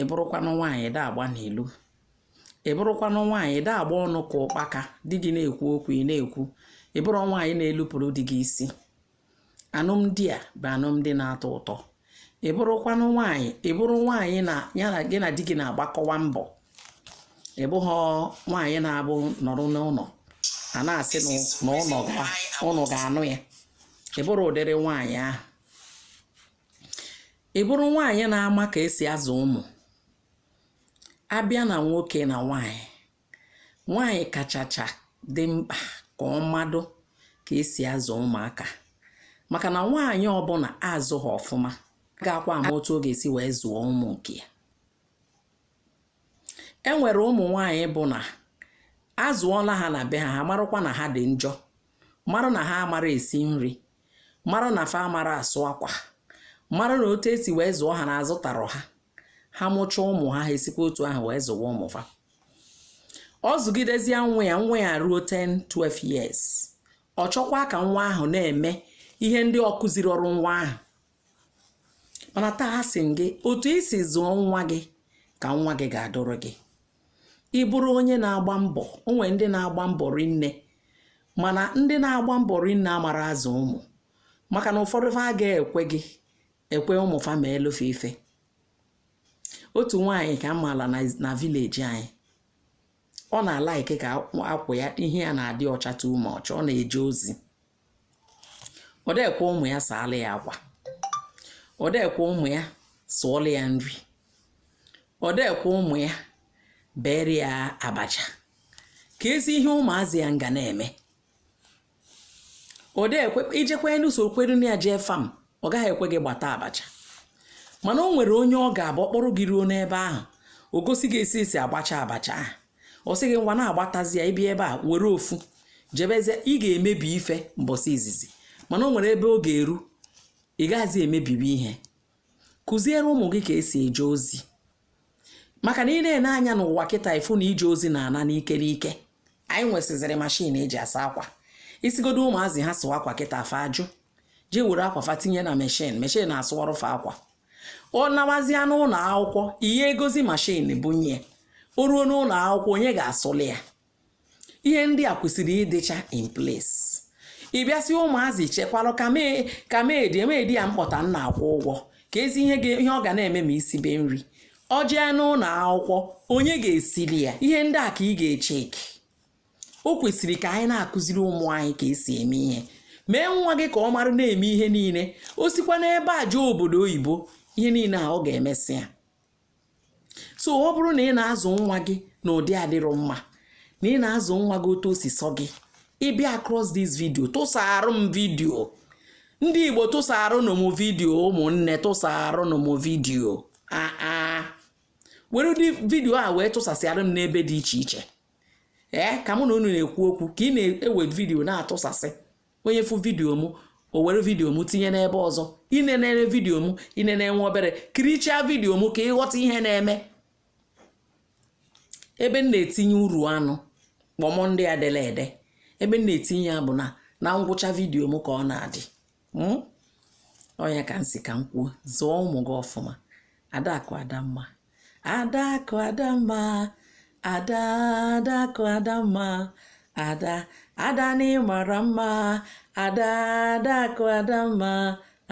ị bụrụkwanụ nwaanyị da agba n'ilo ị bụrụkwanụ nwaanyị da agba ọnụ ka ụkpaka di gị na-ekwu okwu ị na-ekwu ị bụrụ nwaanyị na-elupụrụ di gị isi alụmdi a bụ alụmdi na-atọ ụtọ ị bụrụkwanụ nwaanyị ị bụrụ nwaanyị na ya na gị na di gị na-agbakọwa mbọ ị bụghị nwaanyị na-abụ nọrọ n'ụlọ a na-asị na ụlọ ga-anụ ya ị bụrụ ụdịrị nwaanyị ahụ ị bụrụ nwaanyị na-ama ka esi azụ ụmụ a bịa na nwoke na nwaanyị nwaanyị kachacha dị mkpa ka ọ marụ ka esi azụ ụmụaka maka na nwaanyị ọbụla azụghị ọfụma agakwa ama otu ọ ga-esi wee zụọ ụmụ nke ya e nwere ụmụ nwaanyị bụ na azụọla ha na be ha ha marụkwa na ha dị njọ marụ na ha amara esi nri mara na fa amara asụ akwa mara na otu esi wee zụọ ha na azụtarọ ha ha mụcha ụmụ ha ha esikwa otu ahụ wee zụwa ụmụ fa ọ zụgidezie nwa ya nwa ya ruo 10 12 years ọ chọkwa ka nwa ahụ na-eme ihe ndị ọ kụzirọrụ nwa ahụ mana taa asị m gị otu i si zụọ nwa gị ka nwa gị ga-adụrụ gị ị bụrụ onye na-agba mbọ o nwere ndị na-agba mbọ rinne mana ndị na-agba mbọ rinne amara azụ ụmụ maka na ụfọdụ fa agaghị ekwe gị ekwe ụmụ fa meelụ fa ife otu nwaanyị ka m maala na vileji anyị ọ na-alaiki ka akwa ya ihe ya na-adị ọcha too much ọ na-eje ozi ọ da ekwe ụmụ ya saala ya akwa ọ da ekwe ụmụ ya sụọla ya nri ọ da ekwe ụmụ ya bere ya abacha keezi ihe ụmụazị ya nga na-eme ọ da ekwe i jekwanụ sokwuru na ya jee fam ọ gaghị ekwe gị gbata abacha mana o nwere onye ọ ga-abụ ọ kpọrọ gị ruo n'ebe ahụ o gosi gị esi esi agbacha abacha ahụ ọ sị gị ngwa na-agbatazi ya ị bịa ebe a were ofu jebezie ị ga-emebi ife mbọsị izizi mana o nwere ebe ọ ga-eru ị gaghịzi emebibi ihe kụziere ụmụ gị ka esi eje ozi maka na ị na-ene anya n'ụwa kịta ị fụ na ije ozi na-ana n'ike n'ike anyị nwesịzịrị mashin eji asa akwa ị sịgodo ụmụazị ha sụwa akwa kịta fa ajụ jee were akwa fa tinye na meshin meshin na-asụwarụ fa akwa ọ nawazịa n'ụlọ akwụkwọ ị ga-egozi mashin bunye o ruo n'ụlọ akwụkwọ onye ga-asụlị ya ihe ndị a kwesịrị ịdịcha in place ị bịa sị ụmụazị chekwarụ ka mee ka meedi emeedi ya m kpọta na-akwụ ụgwọ keezi ihe ga- ihe ọ ga na-eme ma isibe nri ọ jee n'ụlọ akwụkwọ onye ga-esili ya ihe ndị a ka ị ga-echeki o kwesịrị ka anyị na-akụziri ụmụ anyị ka esi eme ihe mee nwa gị ka ọ mara na-eme ihe niile o sikwa n'ebe a jee obodo oyibo ihe niile a ọ ga-emesị ya so ọ bụrụ na ị na-azụ nwa gị na ụdị adịrọ mma na ị na-azụ nwa gị otu o si sọ gị ị bịa across this video tụsaara m vidio ndị igbo tụsaaranụ m vidio ụmụnne tụsaaranụ m vidio a were ụdị vidio a wee tụsasịara m n'ebe dị iche iche ee ka mụ na unu na-ekwu okwu ka ị na-ewe vidiyo na-atụsasị onye fụ vidiyo m o were vidiyo m tinye n'ebe ọzọ i nenere vidiyo m i nene nwa obere kirichaa vidiyo m ka ị ghọta ihe na-eme ebe m na-etinye uru anụ kpọmọ ndị a dele ede ebe m na-etinye ya bụ na na ngwụcha vidiyo m ka ọ na-adị hmm? ọ nya ka m sị ka m kwuo zụọ ụmụ gị ọfụma adakụ adamma adakụ adamma ada adakụ adamma ada ada na ị mara mma ada adakụ adamma